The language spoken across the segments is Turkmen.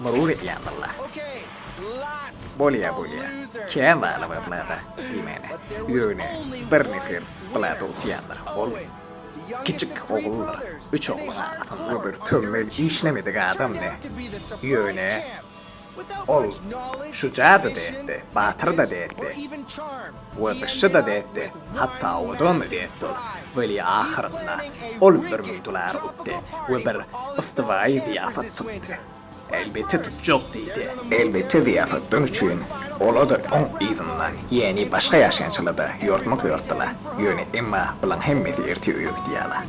Murur edýän walla. Bolýa bolýa. Kän zada bar Blada diýmäne. Ýöne bir nefer Blada utýandyr. Ol kiçik oguldyr. Üç ogluň arasynda bir tömmel işlemedik adamdy. Ýöne ol şuja-da dätdi, batyr-da dätdi. We gyşçy-da degdi, hatda owadan-da degdi ol. Weli ahyrynda ol bir müň dolar utdy we bir ystywaýy zyýafat tutdy. Elbetde tutjak diýdi. Elbetde zyýafatdan üçin ola-da oň yzyndan ýäni başga ýaşaýjyla-da ýortmak ýortdylar. Ýöne emma bulaň hemmesi ertir öýe gidýärler.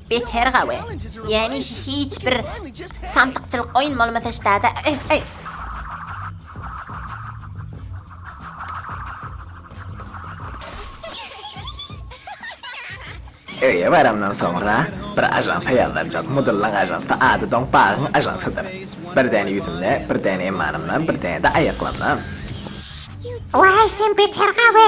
Beter gawy. Ýani şu hiç bir samsykçylyk oýun bolmasa ştada. Öh, öh. Öýe baramdan soňra bir ajansa ýazdanjak mudyllaň ajansa ady doň bagyň ajansydyr. Bir däne ýüzümde, bir däne emmanymda, bir däne-de aýaklamda. Waý sen beter gawy.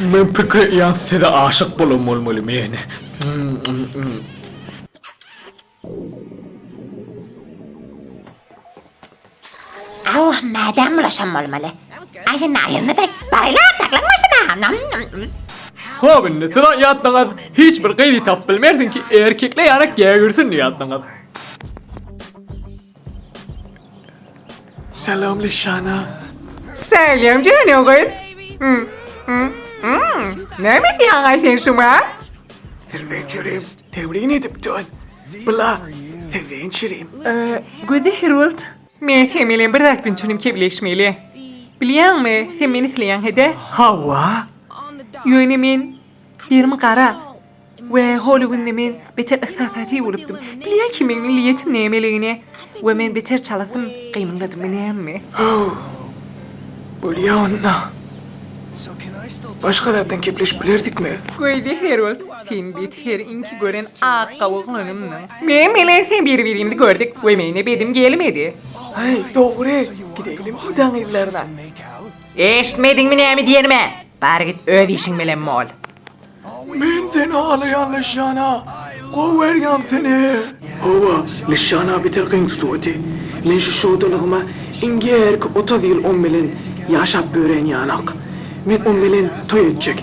Men pikir edýän size aşyk bolan bolmaly men. Aw mädem bulaşan bolmaly. Aýdyn aýryny-da baraýla saklan maşyna. Hop indi siz aýatdyňyz hiç bir gyzy tapyp bilmersiň ki erkekle ýarak gägirsin diýýatdyňyz. Salam Lişana. Salam janyň gyz. Hmm, hmm, hmm. Näme diýýäň aý sen şuňa? Serwen Çirim, tebrin edip dön. Bula, Serwen Çirim. Ee, Gözi Herold. Men sen bilen bir zat düşünüp kebleşmeli. Bilýäňmi, sen meni isleýäň hede? Hawa. Ýöne men derimi gara. We holy günde men beter yhsasatyi bolupdym. Bilýän kimin niliýetim nämeligini. We men beter çalasym, gymyldadym näme. How. Bolýa onda. Başga zatdan kepleşip bilersikmi? Goýdy Herold, sen bet her inki gören ak gawuglanymdyň. Men bilen sen bir-birimizi gördük we meni bedim gelmedi. Haý, dogry. Gideýlim Hudaň yzlaryna. Eşitmediňmi näme diýenimi? Bar git öz işiň bilen bol. Men seni alaýan Lişana, gowerýan seni. Hawa, Lişana beter gyň tutup oty. Men şu şowdalygyma iňgärki otuz ýyl oň bilen ýaşap örän ýanak. Men oň bilen toý etjek,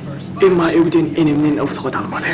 emma öýden enemden rugsat almaly.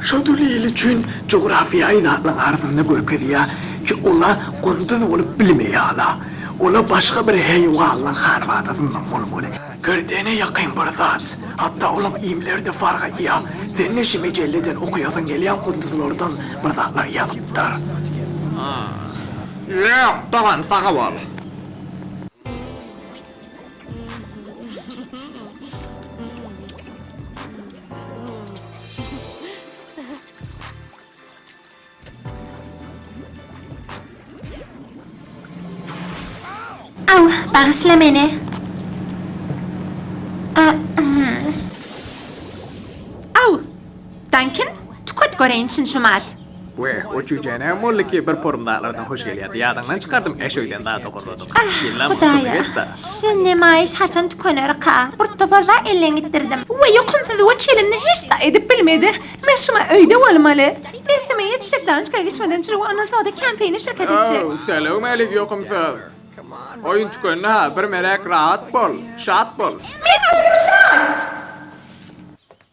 Şodül il üçin jografiýaýy zatlaryň arasynda görkezýär ki, olar gunduz bolup bilmeýärler. Olar başga bir heýwanlaryň harbatasyndan bolmaly. Gerdene ýakyn bir zat. Hatda olaň iýmleri-de fark edýär. Sen-de şu mejeleden okaýasyň gelýän gunduzlardan bir zatlar ýazypdyr. Ýok, dogan, sag bol. Aw, bagyşla meni. A, hmm. Aw! Dankin, tüket göreýin çyn-çumat. We o jüýje näme boldy ki bir porum zatlardan hoş gelýärdi ýadyňdan çykardym äş öýden zat ogurladyk. Ah hudaýa şu nemaýyş haçan tükenerka bir topar zat elden gitdirdim. We ýokumsyz wekilimni hiç zat edip bilmedi. Men şumy öýde bolmaly. Dersime ýetişip dançka geçmeden çürüp ondan soda känpeýine şirket etjek. Ow säleumalik ýokumsyz. Oýun tükendi ha bir meräk rahat bol, şat bol. Men öýdüm şat.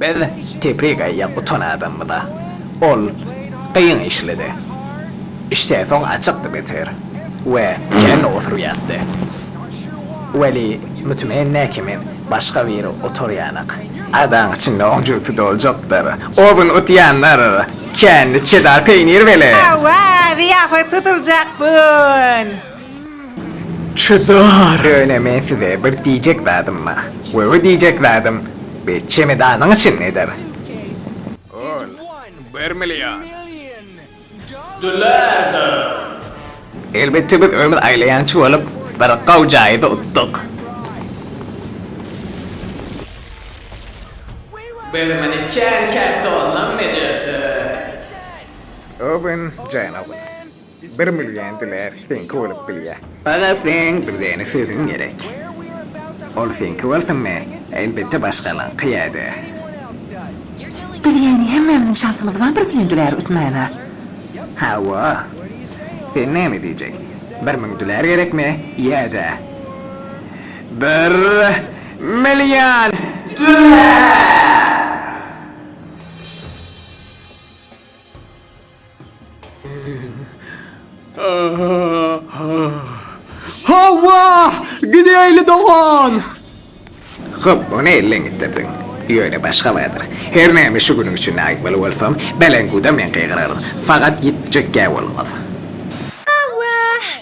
Biz Teprik eýýäm gutan adamyda. Ol kyn işledi. Işden soň açykdy beter we ýerinde oturýardy. Weli mütmen näkimin başga biri oturýanak. Adaň içinde oň jübüti doljakdyr. Ozüni utýanlar kände çedar peýnir weli. Hawa, zyýafat tutuljak bu gün. Çydar! Ýöne men size bir diýjek zadym bar we bu diýjek zadym bi çemedanyň içindedir. Ol bir million. Dollardyr. Elbetde biz ömür aýlaýançy bolup bir gowy jaýyzy utduk. Biz muny kän kartondan bejerdik. Owin, Jen Owin. Bir million dolar seňki bolup bilýär. Aga sen bizeni sözüň gerek. Ol seňki bolsunmy? Elbetde başgalaňky ýa-da. Biz ýagny hemmämiziň şansymyz bar bir million dolar utmana. Hawa. Sen näme diýjek? Bir müň dolar gerekmi ýa-da. Bir million dolar? Hawa! Gideýli dogan! Hop, ony elleň gitdirdiň. Ýöne başga badyr. Her näme şu günüň üçin aýtmaly bolsam, belengüwde men gygyraryn. Fakat ýitjek ýa bolmaz. Hawa!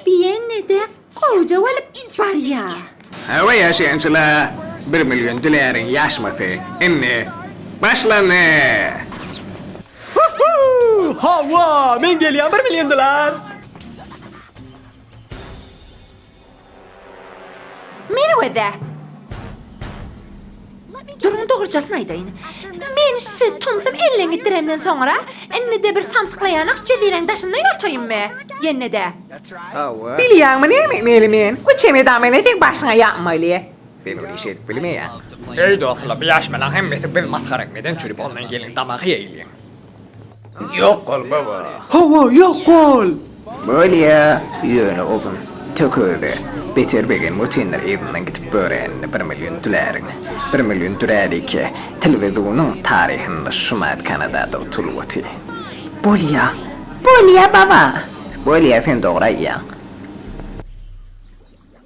Diýende dek Gowja bolup barýa. Hawa ýaşaýançyla bir million dilärin ýaşmasy indi başlandy. Huhuu hawa men gelýän bir million dilar. Meni we de. Duruň dogrujasyny aýdaýyn. Men size tomsum elden gitdiremden soňra, indi-de bir samsyklaýanok jezireň daşynda ýortaýynmy? Ýene-de. Hawa. Bilýäňmi näme etmeli men? Bu çemedan bilen seň başyňa ýapmaly. Sen ony iş edip bilmeýäň. Eý dostlar, bu ýaşmalaň hemmesi biz masgara etmeden çürüp ondan geliň damagy ýeýliň. Ýok bol, baba! Hawa, ýok bol! Bolýa, ýöne ozün, tökügi, beter begem götindir yzyndan gidip göräýenini bir million düläriň, bir million düräliki, telewizonyň taryhynda şumat kanadada utulyp oty. Bolýa! Bolýa, baba! Bolýa, sen dogry aýýaň.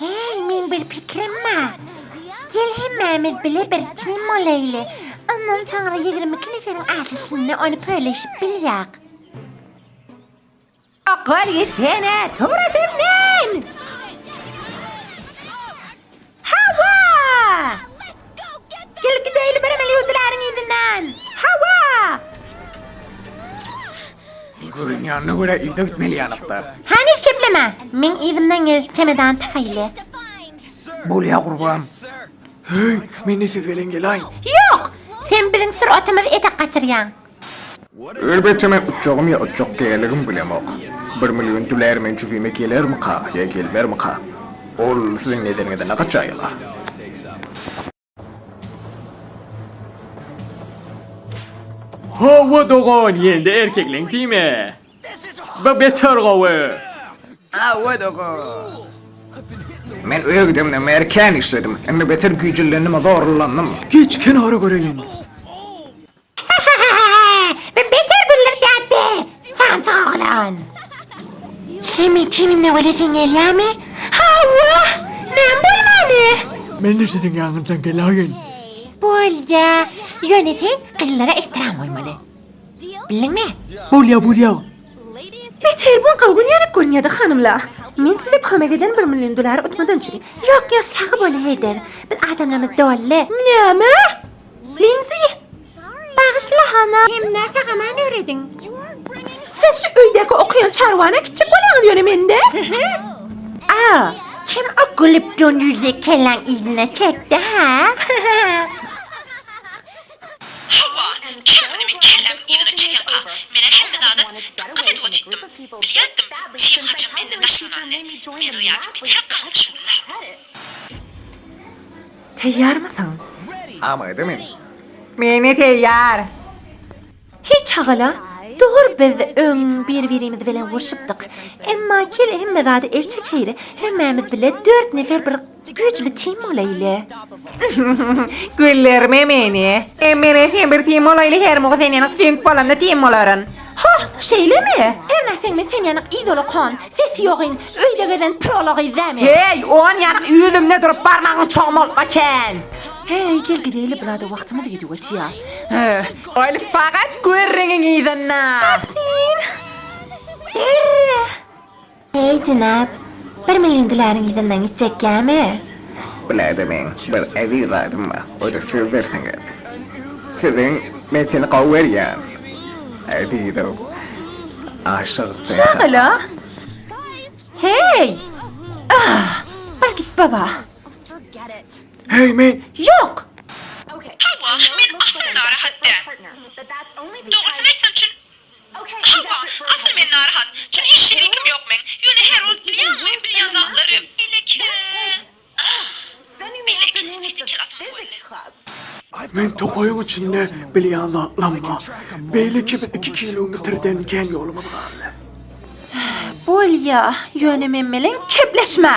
Heý, meň bir pikirim bar. Gel hemmämiz bile bir tim bolaýly. Ondan soňra ýigrimi iki neferiň arasynda ony pöleşip bilýäk. Okol gitsene, tut itinden! Hawa! Gel gideýli bir emel ýuwdularyň yzyndan! Hawa! Görünýänine görä yza gitmeli ýalykdyr. Hany ekepleme! Meň yzymdan gel, çemedan tapaýly. Bolýa gurbam. Heý, men-de siz bilen gelaýyn. Ýok! Sen biziň sur-atymyzy etek gaçyrýaň. Elbetde men utjagym ýa utjak däligimi bilemok. Bir million dolar men jübime gelermika ýa gelmermika? Ol siziň nezeriňizde ne gaç jaýy bar? Hawa dogan ýelde erkekleň timi. Bu beter gowy. Hawa dogan. Men öýgidemde merkän işledim. Indi beter güýjülendim zorlandim. Geç kenara göreýin. Bu beter güllergätdi, samsyk oglan. Sen meň tenimden gülesiň gelýärmi? Hawa, näme bolmany? Men-de siziň ýanyňyzdan gelaýyn. Bolýa, ýöne sen gyzlara ehtiram goýmaly. Bildiňmi? Bolýa, bolýa. Beter bu gawun ýaly görünýärdi, hanymlar. Men size kömek eden bir million dolary utmadan çüri. Ýok, ýok, sagboluň, Heýder. Biz adamlarymyz doly. Näme? Linzi! Bagyşla, hana! Hem nähä haman örediň? Siz şu öýdäki okaýan çarwana kiçi bolaňyz ýöne mende. Aw, kim o gülüp ýon ýüzli kelläň yzyna çekdi, hä? Hawa, kim muny meň kelläm yzyna çekenka? Men-ä hemme zada dykgat edip otytdym. Bilýätdim, Tim haçan menden daşlananyny. Men rýadym geçer galdy şuny lap. Teýýarmysyň? Amada men. Men-ä teýýar. Heý çagala, dogry biz öň bir-birimiz bilen urşupdyk. Emma gel hemme zady el çekeýli, hemmämiz bile dört nefer bir güýjli tim bolaýly. Güldürme meni. Hem men-e sen bir tim bolaýly, her mugu sen ýene süňk bolanda tim bolaryn. Hah, şeýlemi? Hernä seň men sen ýanyk izolok hon, sesi ýogyn, öýde gezen prola gyz dä men. Heý, on ýanyk ýüzümde durup barmagyň çoň bolupm eken. Heý, gel gideli bulada wagtymyz gidip otýa. Höh, ol fakat gürrüňiň yzynda. Bastin! Derre! Heý, jenap! Bir million diläriň yzyndan gitjek ýamy? Bu näde meň bir eziz zadym bar, o-da sizdirsiňiz. Siziň, men seni gowy görýän, ezizow. Aşyk Jenhana. Şagala! Heý! Ah! Bar git, baba! Heý, men. Ýok! Hawa, men asyl narahat däl. Dogrusyny aýtsam, çün Hawa, asyl men narahat. Çün hiç şerikim ýok meň. Ýöne Herold bilýäňmi, bilýän zatlary. Belki. Belki, fiziker asyl boldy. Meň tokaýyň içinde bilýän zatlam bar. Belki biz iki kilometrden kän ýolumyz galdy. Bolýa, ýöne men bilen kepleşme!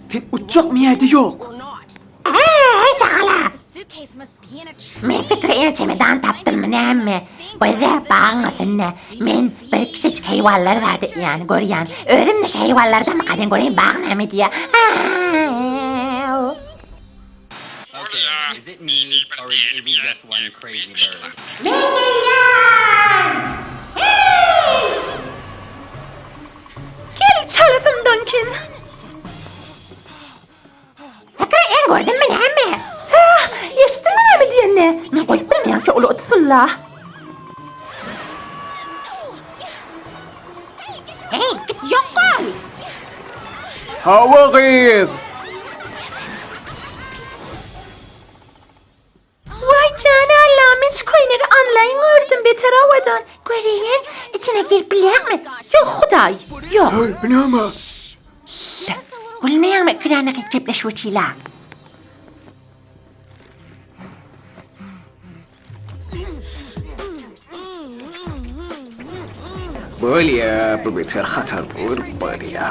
Sen uçjakmy ýa-da ýok? Äý, çagala! Men sekreýe çemedan tapdymmy näme? Gyz-ä bagyň üstünde. Men bir kiçijik heýwanlar zady, ýany görýän. Özüm-de şu heýwanlardan bakaýyn göreýin bagy näme diýýär. Äý-äý-äý! Men gelýän! Heý! Gel çalasymdan kin! Pikri en gördünmi näme? Hä, eşitdiňmi näme diýenini? Men goýup bilmeýän ki ol otsulla. Hey, git yok bol! Hawa gyz! Waý jany Alla men şu köýnegi anlaýyn gördüm beter owadan. Göreýin içine girip bilýäňmi? Ýok hudaý. Ýok. Haý bu näme? Ýa. Gülmeýäňmi kräne gyt gepleşip otyla. Bolýa, bu geçer haçan dur bolýa.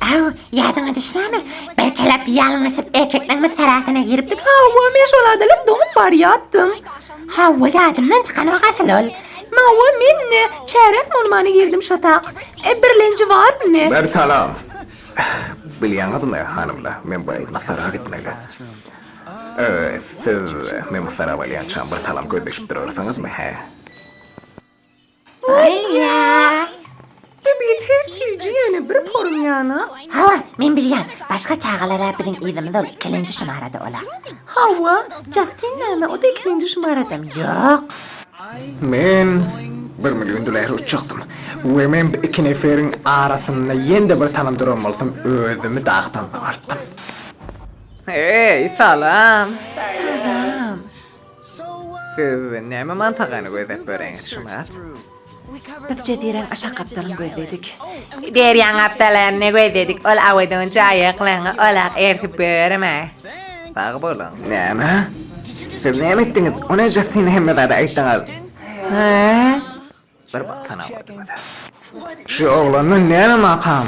Aw, ýadyňa düşýämi? Bir kelep ýalňyşyp erkekleň mysaratyna giripdik. Hawa, men şol adalyp doňup barýatdym. Hawa, ýadymdan çykanok asyl ol. Mawa, men-de çärek bolmana girdim şotak. E, birlenji barmyny? Bertalan! Bilýäňizmi, hanymlar, men bu aýdym sara gitmeli. Siz men bu soragy berýänçäm bir talam gözleşip durarsyňyzmy, hä? Bolýar. Hep ýeter süýji ýöne bir porum ýana. Hawa, men bilýän. Başga çagalar-a biziň yzymyz ol ikilinji şumarada ola. Hawa, Jastin näme o-da ikilinji şumaradamy? Ýok. Men bir million dolara uçjakdym we men bu iki neferiň arasynda ýene-de bir talam duran bolsam özümi dagdan abartdym. Hey, salam. Salam. Siz näme mantagany gözläp böreňiz, Şumat? Biz jeziräň aşak gapdalyny gözledik. Derýaň gapdalaryny gözledik, ol awydyň jaýyklaryny olak ersip görme. Sag boluň. Näme? Siz näme etdiňiz? O ne Jastina hemme zady aýtdyňyz? Hä? Bir baksana awydyňyza. Şu oglandan näme makam?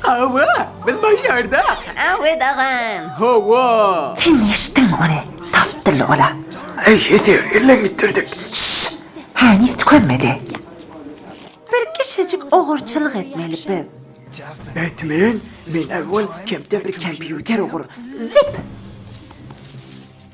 Hawa, biz başardyk. Awed agam. Hawa. Sen eşitdiňmi ony? Tas dilli ola. Eý, Heser, elleň bitirdik. Şşş! Heniz tükenmedi. Bir kişejik ogurçylyk etmeli biz. Batman, men awal kempden bir kompýuter ogur. Zip!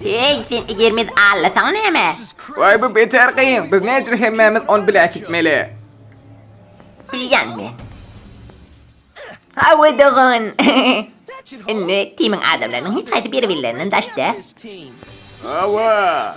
Heý, sen egermez allasaň näme? Waý bu beter kyn, biz näçe hemmämiz ony bile äkitmeli. Bilýän men. Hawa dogan. Indi timiň adamlarynyň hiç haýsy biri billerinden daşda. Hawa.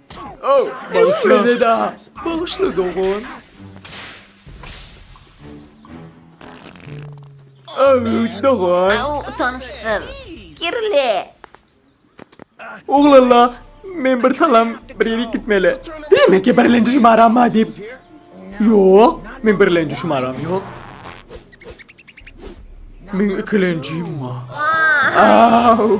Bagyşla. Bagyşla dogan. Öwüt dogan. Au, utanmşdyr. Kirli. Oglalla, men bir talam bir ýere gitmeli. Demek ki birlenji şumaram bar diýip. Ýok, men birlenji şumaram ýok. Men ikilenjim bar. Au.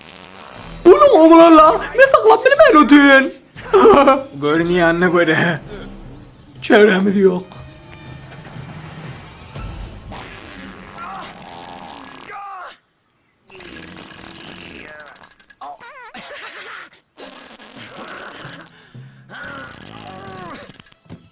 Uly oglanla men saklap bilmen otyryn. Görünýänine göre çäremiz ýok.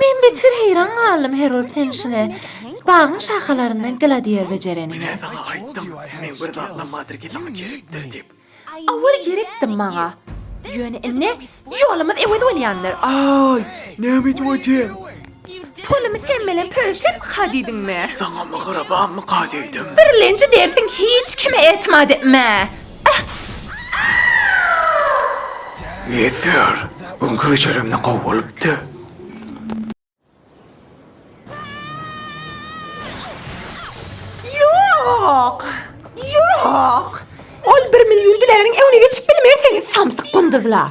Men beter heýran galdym Herold Tenşine, bagyň şahalarynda Gladiýer bejereniňe. Menä saňa aýtdym, meň bir zatlam bardyr ki, saňa gerekdir diýip. Awal gerekdi maňa. Ýöne indi ýolumyz ewez bolýandyr. Aý, näme edip otyň? Pulumy sen bilen pölüşemika diýdiňmi? Saňa mygrybamyka diýdim. Birlenji dersiň hiç kime etmä diýipmi? Ýeter, öňki bejeremde gowy bolupdy. Ýok! Ýok! Ol bir million diläniň öňüne geçip bilmersiňiz, samsyk gunduzlar!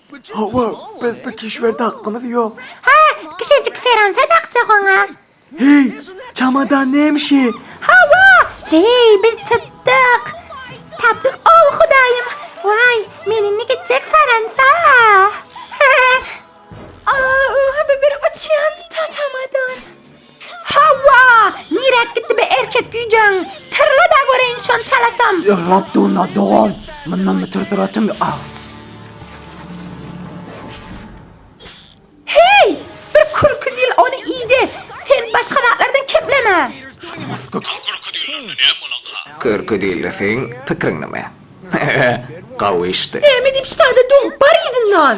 Hawa, biz bu kişwerde hakkymyz ýok. Ha, kişejik seransa dakjak oňa. Heý, çamadan nemişi? Hawa, heý, biz tutduk. Tapdyk, ow, hudaýym. Waý, men indi gitjek Fransa. Aa, bu bir uçýan çamadan. Hawa, niräk gitdi bu erkek güýjäň? Tyrla-da göreýin şony çalasam! Ýyglap durma, dogan, mundan beter syratyň aw. Heý, bir kürki dil ony iýdi. Sen başga zatlardan kepleme. Şuňňuskyp. Al kürki dillerine näm bolanka? Kürki dilde seň pikiriň näme? He-he, gawy işdi. Näme diýip ştada duň, bar yzyndan!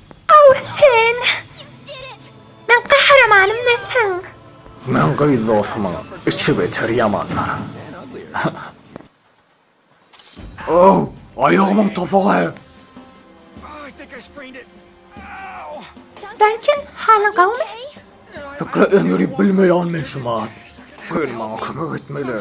Aw sen! Meň gahrymanymdyr sen! Meň gyz dostumyň içi-geçer ýamandyr. Aw, aýagymyň topugy! Dankin, halyň gowumy? Pikre öňürip bilmeýän men şu mat. Sen maňa kömek etmeli.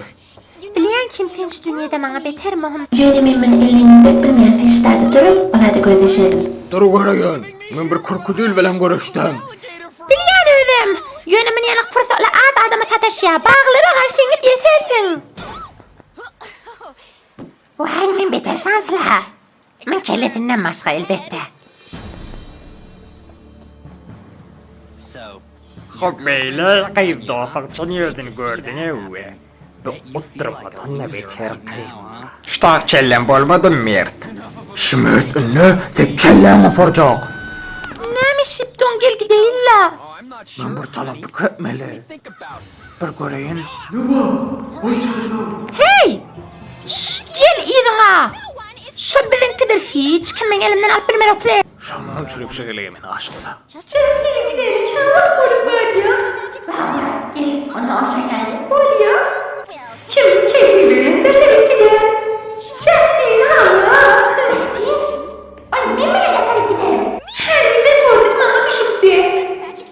Bilýän kimsin şu dünýede maňa beter muhim. Ýöne men muny ellimden dek bilmeýän Ferişdäde durup, olada gözleşerdim. Dur göreýin, men bir krokudil bilen görüşdim. Bilýän özüm. Ýöne muny ýene pursatly az adama sataşýar. Baglara garşy ýeňip ýetersiň. Waý, men beter şansly-ha. Min kellesinden başga elbetde. Hop beyle gyz dosak üçin ýördün gördün ewe. Bu guddurmadan da beter gyz. Ştah kellem bolmadymy mert? Şümürt indi sek kelläň oparjak. Näme şipdun gel gideýin la. Men bir talap pikir etmeli. bir göreýin. Numa, goý çykarsam. Heý! Şşş, gel yzyňa! Şo biziňkidir, hiç kim meň elimden alyp bilmeropdy. Şonuň üçin übşe geleýe men aşygyna. Just gelip gideli kän wagt bolup barýa. Bagla, gel, ony oýnaýaýyk bolýa. Kim ketiň bilen daşaryk gider? Jastin haly! Jastin? Ol men bilen daşaryk gider. Hany, men gördüm, maňa düşüpdi.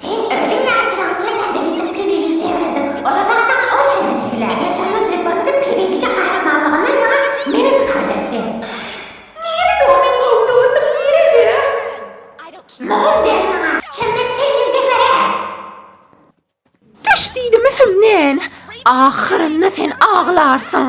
Sen özüň ýaly çyragyňa ýa-da niçik pezewiçe girdiň, ol-a zatdan o çenli diýdiler. Ýaşyl möjeklerimiziň pezewiçe gahrymanlygyndan ýaňa men yntikam etdim. Nirä doly gowy dostum, nirede? Mugam däl maňa, çömmet seňden beterä. Düş diýdim üsümden, ahyrynda sen aglarsyň.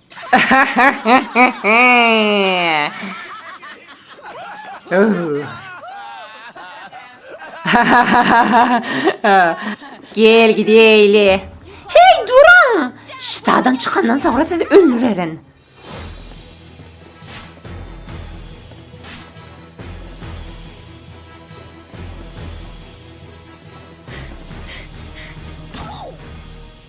Gel gideýli. Hey duruň! Ştadan çykandan soňra sizi öldürerin.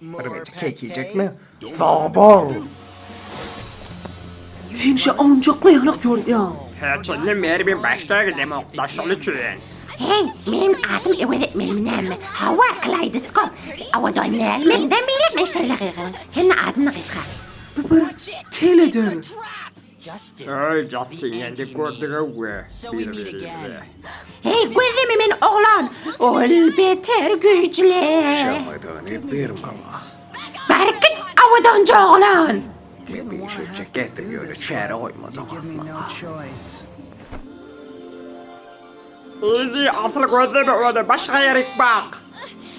Birem edip kek iýjekmi? Sag bol! Sen şa onjakmy ýaňak ýörýäň? Hiç indi beri men başda gidemok da şol üçin. Heý, menem adymy ewez etmelimi näme? Hawa, Kleidoskop. Abadan näl, menden beýläk men şeýle gygyryň. Hemme adymda gysga. Bu bir teledir. Öý Jastin ýendik gördüga we bir birimize. Heý gözleme men oglan ol beter güýjli. Şamadany bir mala. Bärkit awadanjy oglan. Meni şeýtjek etdim ýöne çäre goýmadyň asla. Yzy asyl gözleme ony başga ýerik bak.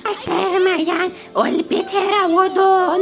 Başarmaýan ol beter awadan.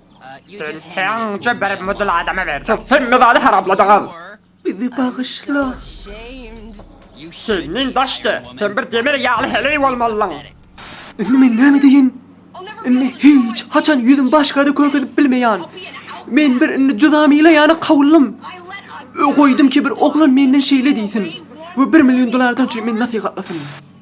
Sen täňje bir mydl adama berjek. Hemme zady haramladyňyz. Bizi bagyşla. Sen men daşda. Sen bir demir ýaly heleý bolmalyň. Indi men näme edeýin? Indi hiç haçan ýüzüm başgada körkezip bilmeýän. Men bir indi juda mile ýana kawuldym. Goýdum ki bir oglan menden şeýle diýsin. We bir million dolardan üçin men nasihatlasyn.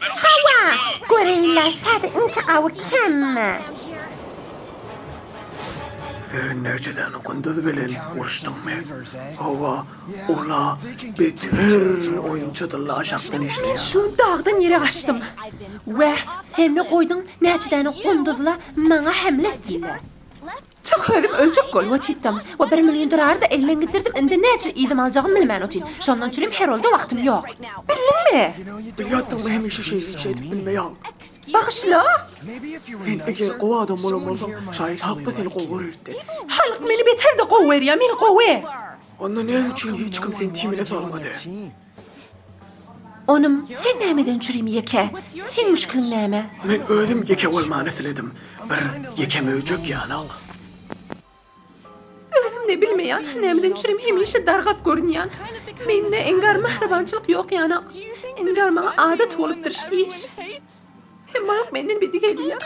Hawa, göreýinler täze inçe gawut hemme. Sen näçeden gunduz bilen uruşdyňmy? Hawa, ol-a beter oýunçy dylla aşakdan işleýär. Şu dagdan ýere gaçdym. Weh, sen-le goýduň näçe däne gunduzla maňa hemle etsinler. Çyk özüm ölçek bolup otytdym. O bir million durardy, elmen gidirdim, indi näçe iýdim aljagym bilmän otyt. Şondan çülim Herolda wagtym ýok. Bildiňmi? Bilýätdiňmi hemişe şeýsik şeýdip bilmeýäň. Bagyşla! Sen eger gowy adam bolan bolsaň, şaýat halkda seni gowy görerdi. Halk meni beterde gowy görýä, men gowy. Onda näme üçin hiç kim seni timine salmady? Onym, sen nämeden çürim ýeke? Seň müşkiliň näme? Men özüm ýeke bolmany isledim. Bir ýeke möjek ýanok. Özüm-de bilmeýän, nämeden çürim hemişe dargap görünýän. Mende inkär, mähribançylyk ýok ýanok. Inkär maňa adat bolupdyr, şiş. Hemmaňam menden bedi gelýär.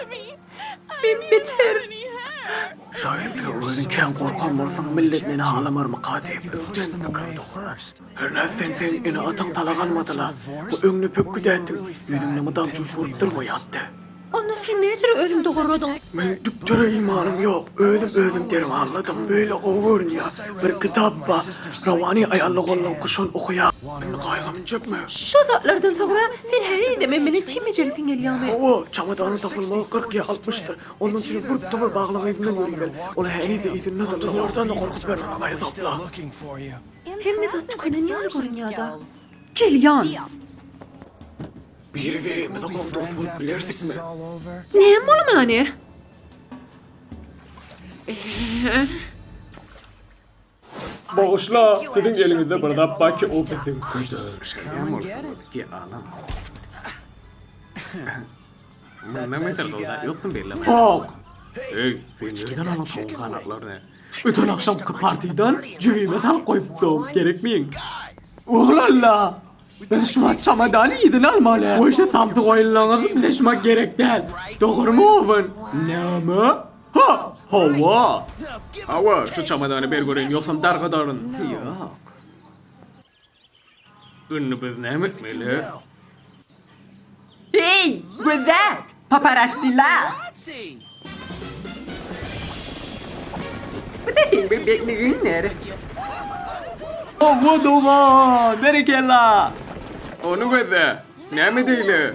Men beter. Şaýat sen özüň kän gorkan bolsaň millet meni halamarmyka diýip öňden pikir dogurar. Hernä sen seň ene ataň talak almadyla. Bu öňňe pek güdätdiň. Ýüzüňde mydam jüýş bolup durma ýatdy. Onda sen näcirä özüň dogurladyň. Men düktere imanym ýok. Özüm özüm dermanladym. Beýle gowy görünýär. Bir kitap bar. Rawani aýallyk ollan kuşon okaýar. Indi gaýgyny çekme. Şo zatlardan soňra sen herizemem meni çim ejelisiň gelýämi? Hawa, çamadanyň tapylmagy kyrk ýa altmyşdyr. Ondan üçinem bir tutuwul baglaň yzyndan ýöriber. Ol herize yzyna atar. Dowardan-da gorkup ber onuň aýazapla. Hemme zat tükenen ýaly görünýär-dä. Gelýän! Biri-birimize gowy dost bolup bilersikmi? Näme bolmany? Bagyşla, siziň eliňizde bir zat bar ki ol biziň. Göterişeýän bolsaňyz ki alyň. Mundan beter gowda ýokdum bellemän. Bak! Eý, sen nirden alyň towuk ganaklaryny? Öten agşamky partiýdan jübime salyp goýupdym, gerekmiň. Oglalla! Biz şumat çamadany yzyna almaly. Goýşy samsyk oýunlaňyz bize şumat gerek däl. Dogrymy Owen? Näme? Ha, hawa. Hawa, şu çamadany ber göreýin, ýogsam dargadaryn. Ýok. Indi biz näme etmeli? Heý, gözäl! Paparatsiler! Bu da seň bebekligiňdir. Hawa, dogan! Berekella! Ony gözle. Näme diýli?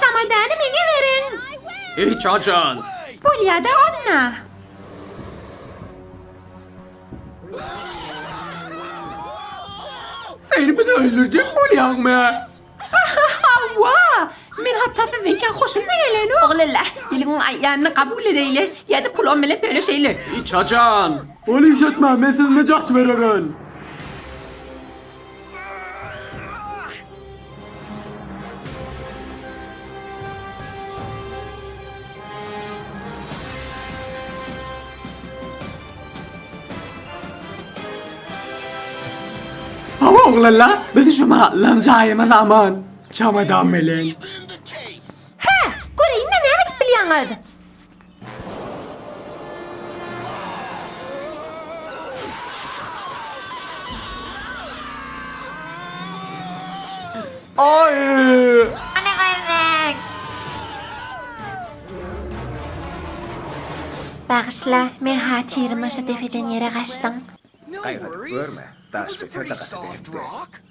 Çamadany meňe beriň! Hiç haçan! Bolýa-da onda! Sen bizi öldürjek bolýaňmy? Hawa! Men hatda sizden kän hoşum-da gelenok. Oglala, geliň aýdanyny kabul edeýler, ýa-da pulum bilen bölüşeýler. Hiç haçan! Ol iş etmez, men siziň nejat bereren! Hawa oglanlar, biz şu mahallan jaýymyz aman. Çamadan bilen. Hä, göreýin-de näme edip bilýäňiz? Bagyşla, men hatyrym-a şu depeden ýere gaçdym. Gaýgydyp görme, daş beter-de gaty berkdi.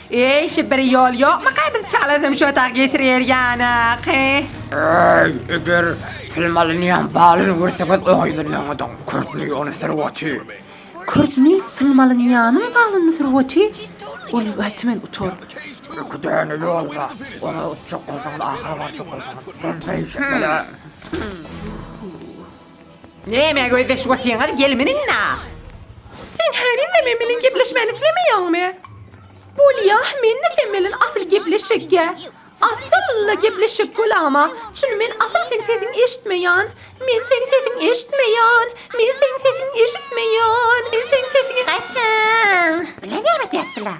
Eý şu bir ýol ýokmyka biz çalasym şu tak ýetirer ýanyky. Eý eger film alynýan balyny görseňiz oňa ýüzlenmeňiziň kürtni ony sürüweti. Kürtni film alynýanyň balyny sürüweti ol wetmen utar. Iki däne ýolda oňa utjak bolsaňyz ahyra barjak bolsaňyz siz beýjik bile. Nämä gözleşip otyňyz, gelmeniňnä! Sen henize men bilen gepleşmäni islemeýäňmi? Bolýa, men-de sen bilen asyl gepleşjekkä. Asyl-la gepleşjek bolama, çüni men asyl seň sesiňi eşitmeýän. Men seň sesiňi eşitmeýän. Men seň sesiňi eşitmeýän. Men seň sesiňi. Gaçyň! Bilen gelip otyapdylar.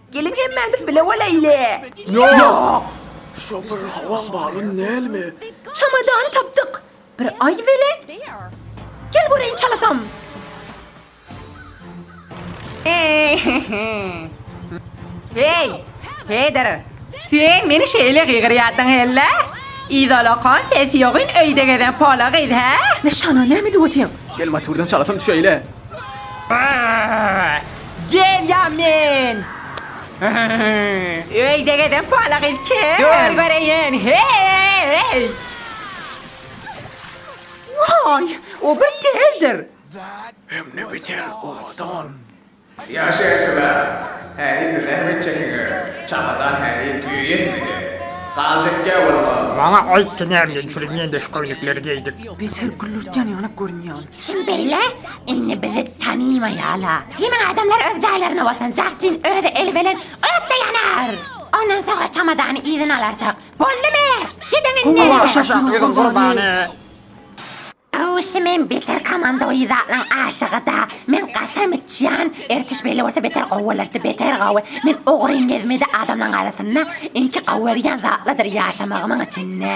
Geliň hemmämiz bile bolaýly. Ýok! Şo bir hawaň balyny nälimi? Çamadany tapdyk. Bir aý weli. Gel göreýin çalasam. Heý! Peder! Sen meni şeýle gygyrýardyň hellä? Idolakan sesi ýogyn öýde gezen pola gyz, hä? Nyşana näme edip otyň? Gel motordan çalasam düşeýli. Gelýa men. Öýde gezen pala gyz kim? Dur göreýin. Heý! Waý, o bir teldir. Hemde beter owadan. Ýaşaýjylar, häzir zähmet çekiňiz, çagalar häli düýe ýetmedi. Galjak gäwürler. Maňa aýt, tu nämden çüri mendeş köýnekleri geýdik? Beter güllürtýän ýaly görünýän. Kim beýle? Indi bizi tanymaýala. Kimin adamlar öz jaýlaryna bolsun, Jastin özi eli bilen ötde ýanar. Ondan soňra çamadany yzyna alarsak. Boldumy? Gidiň indi. Olar aşak ýüzüň gurbany. Awşy men beter komanda we zatlaň aşygyda. Men gasam içýän, ertiş beýle bolsa beter gowy bolardy, beter gowy. Men ogryn gezmedi adamlaň arasynda, iňki gowy görýän zatladyr ýaşamagymyň içinde.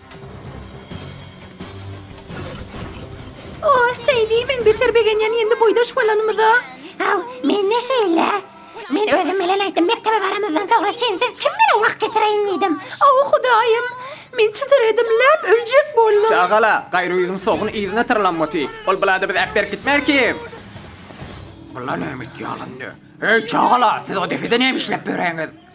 Oh, Seýdi, men beter begenýän indi boýdaş bolanymyza. Aw, men ne şeýle? Men özüm bilen aýtdym, mekdebe baramyzdan soňra sensiz kim bilen wagt geçireýin diýdim. Aw, Hudaýym! Men titredim, läp öljek boldum. Çagala, gaýry ýüzüň sogun yzyna tyrlan boty. Ol bulada biz äp berk gitmer kim? Bular näme etýärler indi? Heý, çagala, siz o depede näme işläp ýöreňiz?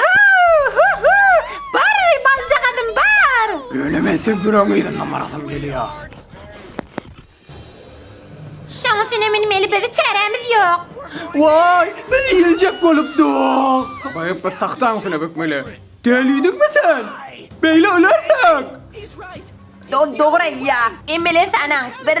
Hü-hü-hü! Bar, baljagazym, bar! Ýöne men sübüregiň yzyndan barasym gelýär. Şoňa sene münmeli bizi çärämiz ýok. Waý, biz iýiljek bolupdyk. Sobaýyp biz tagtaň üstüne bökmeli. Dälidiňmi sen? Beýle ölersek. Do-dogry aýdýar. Men bilen sanaň. Bir.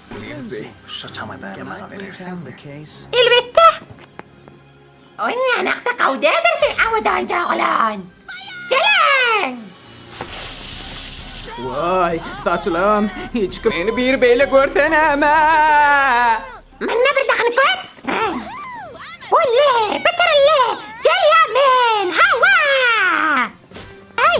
Linzi, şo çamadany maňa berersiňmi? Elbetde! Ony ýanakda gawy däldir sen abadanjy oglan! Geliň! Waý, saçylym, hiç kim meni bir beýle görse näme! Mende bir dakynyp bar! Bolly, bitirilli! Gelýän men! Hawa! Aý!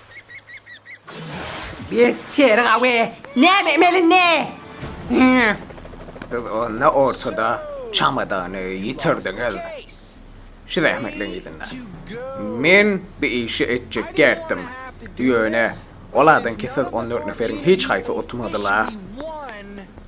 Beter gawy. Näme emeli ne? Siz onda ortada çamadany ýitirdiňiz. Şu zähmetleň yzynda. Men bu işi etjek däldim. Ýöne, olaryňky siz on dört neferiň hiç haýsy utmadylar.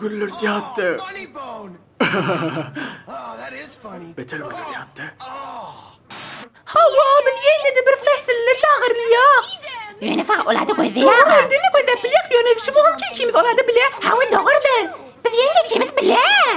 Güllürt ýatdy. Beter güller ýatdy. Hawa, meni ýene-de bir fäsline çagyrýar. Ýöne saňa olada gözleýär. Öýdüni gözläp bilýär, ýöne şu wagtky ikimiz olada bilýär. Hawa, dogrudyr. Biz ýene ikimiz bilýär.